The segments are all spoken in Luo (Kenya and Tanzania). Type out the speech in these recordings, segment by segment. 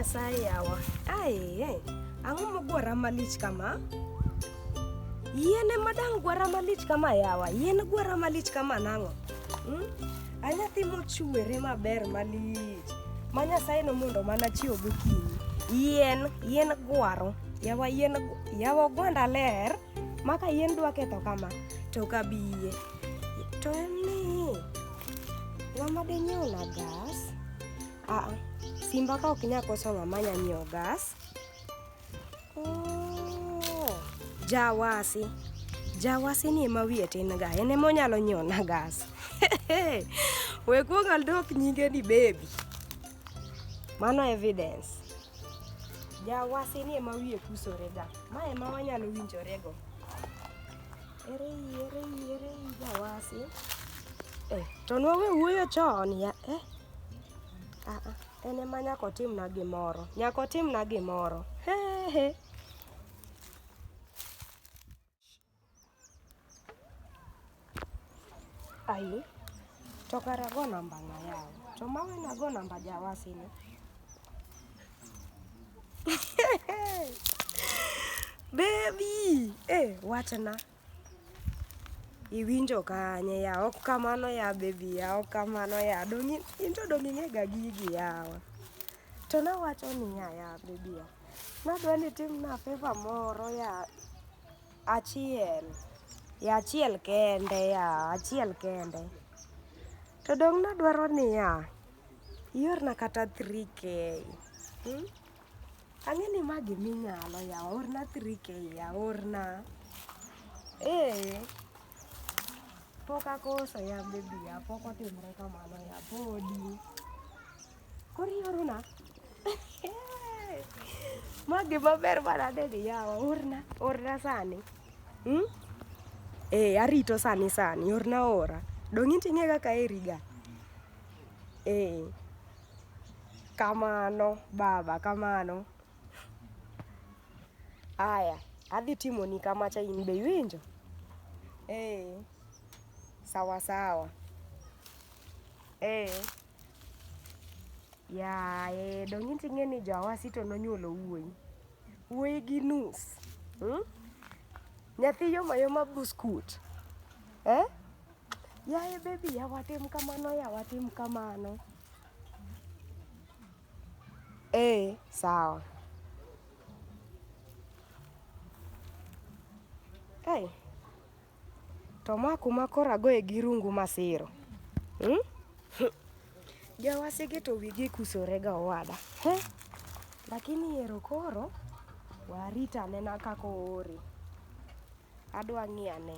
Nyasaye yawa. Aye, ang'o mogwara malich kama? Yien ema dang' gwara malich kama yawa. Yien gwara malich kama nang'o? Hmm? Anyathi mochwere maber malich. ma Nyasaye nomondo mana chiew gokinyi. Yien, yien gwaro, yawa yien, yawa ogwanda ler, maka yien dwa ketho kama, to ok abi yie. To en ni, ng'ama dinyiew na gas, aa, simba ka ok nya koso ng'ama nya nyiewo gas, Jawasi. Jawasi ni ema wiye tin ga, en ema onyalo nyona gas. We kuong aldok nyinge ni baby. Mano evidence. Jawasi ni ema wiye kusore ga. Ma ema wanyalo winjore go. Ere yi, ere yi, ere yi jawasi. Eh, to nwawe wuoyo chon ya. Eh. Ah, ah. En ema nyaka otimna gimoro, nyaka otimna gimoro. He he. Ai, to kara go namba na yawo. To mawe na go namba jawasi ni. Baby, eh, wachna. Iwinjo kanye ya ok kamano ya baby ya ok kamano ya dongi into dongi ne ga gigi yawa. To nawacho niya ya baby ya. Nadwa ni tim na favor moro ya achiel. Ya achiel kende ya achiel kende. To dong nadwaro niya iorna kata 3k. Ang'e ni ma gima inyalo yawa, orna 3K ya, orna. Ee. Pok akoso ya baby ya, pok otimre kamano ya, podi. Koro iorona? Ma gima ber manadeni yawa, orna, orna sani. Hmm? Ee, arito sani sani, orna ora. Donge inti ing'e kaka aheri ga? Ee. Kamano baba kamano. Aya adhi timoni kamacha in be iwinjo? Ee, sawa sawa. Ee. Yaye donge into ing'e ni Jawasi to nonyuolo wuoyi? Wuoyi gi nus. Nyathi yoma yoma buskut. Eh? Yaye baby, yawa tim kamano, yawa tim kamano. Eh, sawa. Hey. To ma kuma koro agoye gi rungu masiro. Hmm? Jawasege to wigi kusore ga owada. He? Lakini ero koro warita nena kako ore. Adwa ng'iya ne.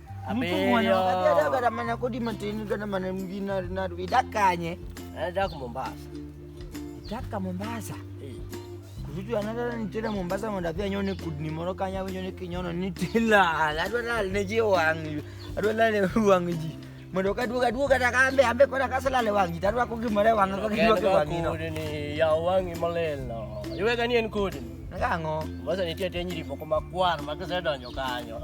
Abeyoagamana kodi matini kana mana mjina rinaru idakanye anaenda ku Mombasa taka Mombasa eh. kuzutu anatara nitira Mombasa mondapia nyone kudni moro kanya nyone kinyono nitila adwala neje wangi adwala le wangi ji mondo ka duoga duoga ta kambe ambe kona kasala le wangi tarwa ko gimore wangi ko gidwa ke wangi no ni ya wangi malelo iwega ni en kudni ngango Mombasa nitie tenyiri moko makwar makise donjo kanyo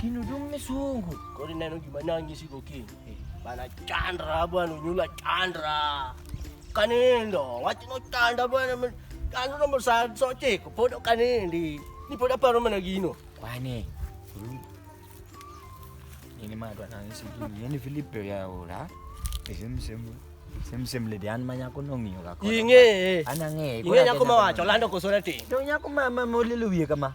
Kino dumme sungu. Kodi neno gima nangi siko ki. Bana chandra bwana unyula chandra. Kanindo, wachi no chandra bwana. Ano no mo sa so chiko podo kanindi. Ni podo paro mana gino. Kwani. Ini mah tuan nangi siko. Ini Filipe ya ora. Isem semu. Sim-sim le dian manya ko nong yo ka ko. Inge. Anange. Inge nya ko ma wa cholando ko sorati. Do nya ko ma ma mo le luye ka ma.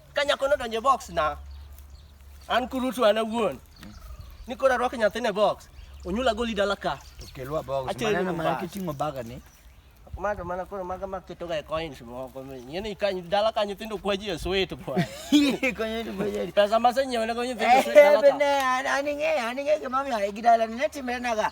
Ka nyako nodonjo e box na, an kurutu an awuon. Ni koro arwako nyathini e box, onyula goli dala ka. To kelwa box. Achele Maneno mana mbas. kiting'o baga ni. Mato mana koro maga maketoga e coins moko. Yene ikanyo dala ka nyithindo kwaji e sweet bwana. Konyo ni bojeri. Pesa maseng'iewo ne go nyithindo e sweet dala ka. Ebene, aning'e, aning'e gimomiyo gidala ni ne timre naga.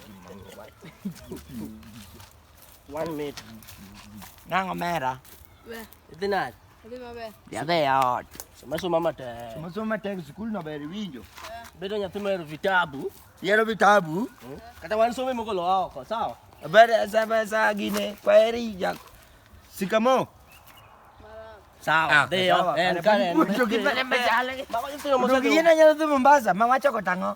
One minute. Nang omera. Be. Dinat. Adhi maber. Yadhe ya ot. Soma soma matek. Soma soma matek skul no ber winjo. Bedo nyathi mahero vitabu. Yero vitabu. Hmm? Kata wan some moko lo oko, sawa? Ber sa ber sa gine. Kwaheri jak. Sikamo. Sawa. Ah, Deo. En kare. Kucho kipale machale. Mako yithiyo mosadu. Kucho kiyina nyalo dhi Mombasa. Mama choko tango.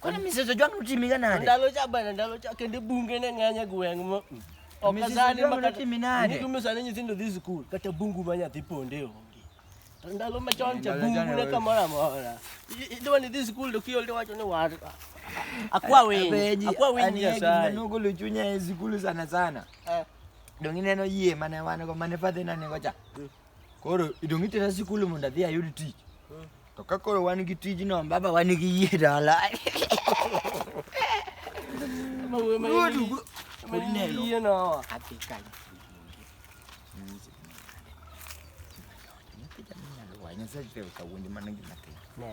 Kwani misezo jwangu utimika nade? Ndalo cha bana ndalo cha kende bunge ne ng'anya gweng' mo. Okazani makati minade. Nikume sana nyithindo dhi school kata bungu ma nyathi ponde onge. To ndalo machon cha bungu ne kamoro amora. Idwa ni dhi school to kiol to wacho ni war. Akwa winyi. Akwa winyi ya sana. Nugo luchunya e school sana sana. Eh. Dongi neno yie mane wan go mane fadhina ne gocha. Mm. Koro idong' itera sikul mondo adhi ayud tich. To ka koro wan gi tijno baba wan gi yie dala. Nyasaye kawuondi mana gima timo.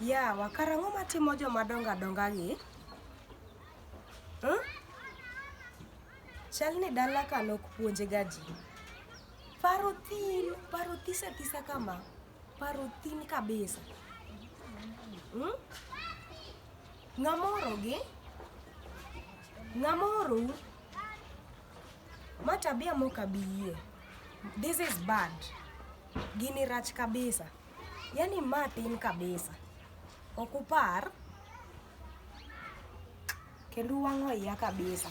Yawa kara ang'o matimo joma dongo adonga gi? Huh? Chal ni dala ka nok puonje ga ji. Paro thin, paro thisa thisa kama. Paro thin kabisa. Hmm? Ng'amoro gi? Ng'amoro u? Ma tabia mok abi yie. This is bad. Gini rach kabisa. Yani ma tin kabisa. Ok upar kendo uwang'o iya kabisa.